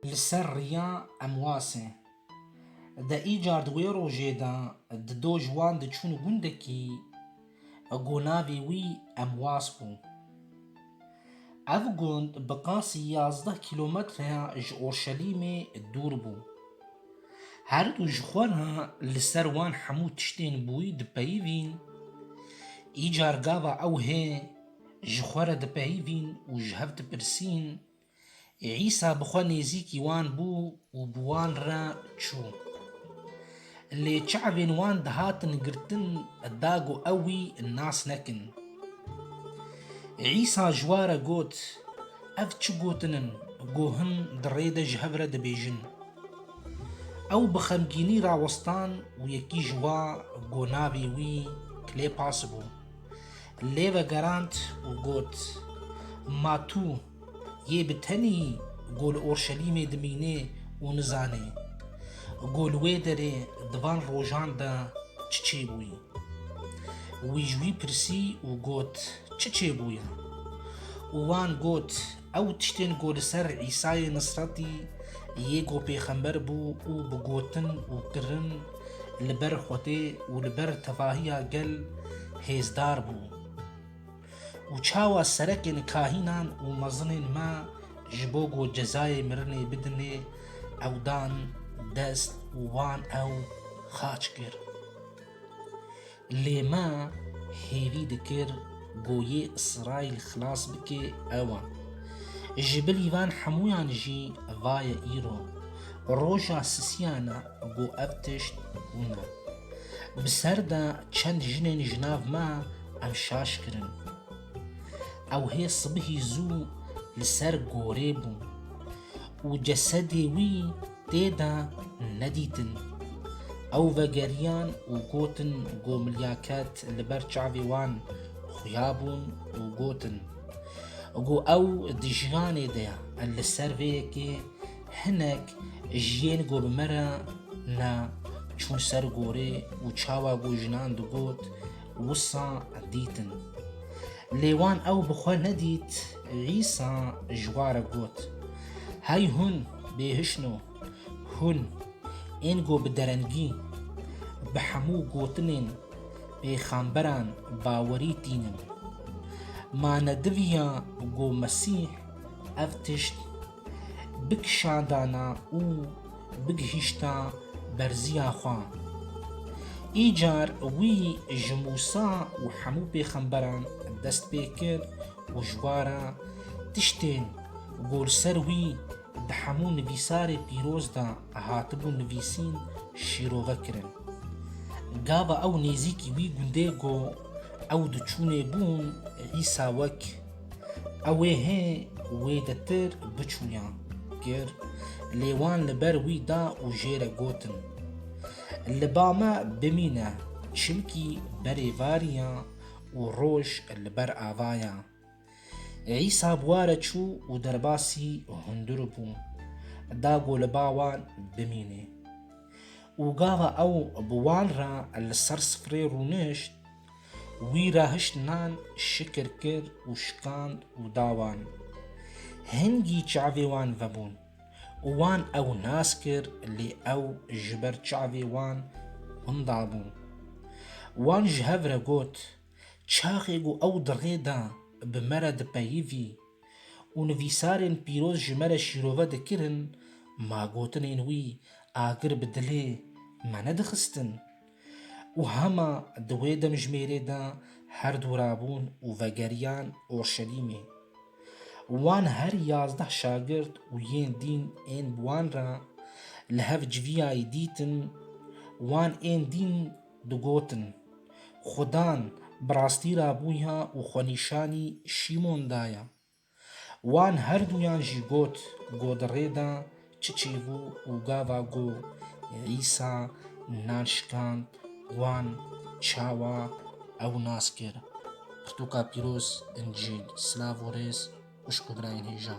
Li ser riya Emwasê de îcar di wê rojê de di doj wan diçûn gundekî ku navê wî Emwas bû. Ev gund bi qasî yazdeh kîlometreya ji Orşelîmê dûr bû. Her du ji xwe re li ser wan hemû tiştên bûyî dipeyivîn, îcar gava ew hê, ji xwe re dipeyivîn û ji hev dipirsîn, Îsa bi xwe nêzîkî wan bû û bi wan re çû. Lê çavên wan dihatin girtin da ku ew wî nas nekin. Îsa ji wa re got, Ev çi gotin in ku hin di rê de ji hev re dibêjin? Ew bi xemgînî rawestan û yekî ji wa ku navê wî Klêpas bû, Lê vegerand û got, Ma tu yê bi tenî ku li Urşelîmê dimînê û nizanê ku li wê derê di van rojan de çi çêbûyî? Wî ji wî pirsî û got, Çi çêbûye? Û wan got, Ew tiştên ku li ser Îsayê Nisretî yê ku pêxember bû û bi gotin û kirin li ber Xwedê û li ber tevahiya gel hêzdar bû. Û çawa serekên kahînan û mezinên me ji bo ku cezayê mirinê bidinê ew dan dest û wan ew xaç kir. Lê me hêvî dikir ku yê Îsraîl xilas bike ewa. Ji bilî van hemûyan jî vaye îro roja sisiyan e ku ev tişt bûne. Bi ser de çend jinên ji nav me ev şaş kirin. Ew hê sibihî zû li ser gorê bû û cesedê wî Tê de nedîtin. Ew vegeriyan û gotin Gomilya ket li ber çavê wan xuya bûn û gotin Go ew di jiyanê de ye e li ser vê yekê hinek ji yên go bi me re ne çûn ser gorê û çawa go jinan digot wisa dîtin. Lê wan ew bi xwe nedît Îsa ji wa re got Hey hûn! Bêhişno, hûn ên ku bi derengî bi hemû gotinên pêxemberan bawerî tîn in. Ma ne diviya ku Mesîh ev tişt bikişandana û bigihîşta berziya xwe. Îcar wî ji Mûsa û hemû pêxemberan dest pê kir û ji bara tiştên ku li ser wî di hemû nivîsarê pîroz de hatibû nivîsîn şîrove kirin. Gava ew nêzîkî wî gundê ku ew di çûnê bûn dîsa wek ew ê hê wê de tir biçûya kir lê wan li ber wî da û jê re gotin Li ba me bimîne çimkî berêvarîya û roj li ber avaya. Îsa bi wa re çû û derbasî hundir bû, da ku li ba wan bimîne. Û gava ew bi wan re li ser sifrê rûnişt, wî re hişt nan şikir kir û şikand û da wan. Hingî çavê wan vebûn. û wan ew nas kir lê ew ji ber çavê wan hinda bû. Wan ji hev re got, Çaxê ku ew di rê de bi me re dipeyivî û nivîsarên pîroz ji me re şîrove dikirin, ma gotinên wî agir bi dilê me nedixistin. Û hema di wê demjimêrê de her du rabûn û vegeriyan Orşelîmê. Wan her yazdeh şagirt û yên dîn ên bi wan re li hev civiyayî dîtin, wan ên dîn digotin, Xudan bi rastî rabûya û xwenîşanî Şîmon daya. Wan her duyan jî got, Go di rê de çi çêbû û gava go Îsa nan şikand, wan çawa ew nas kir. Pirtûka pîroz, Încîl. Silav û rêz xwişk û birayên hêja.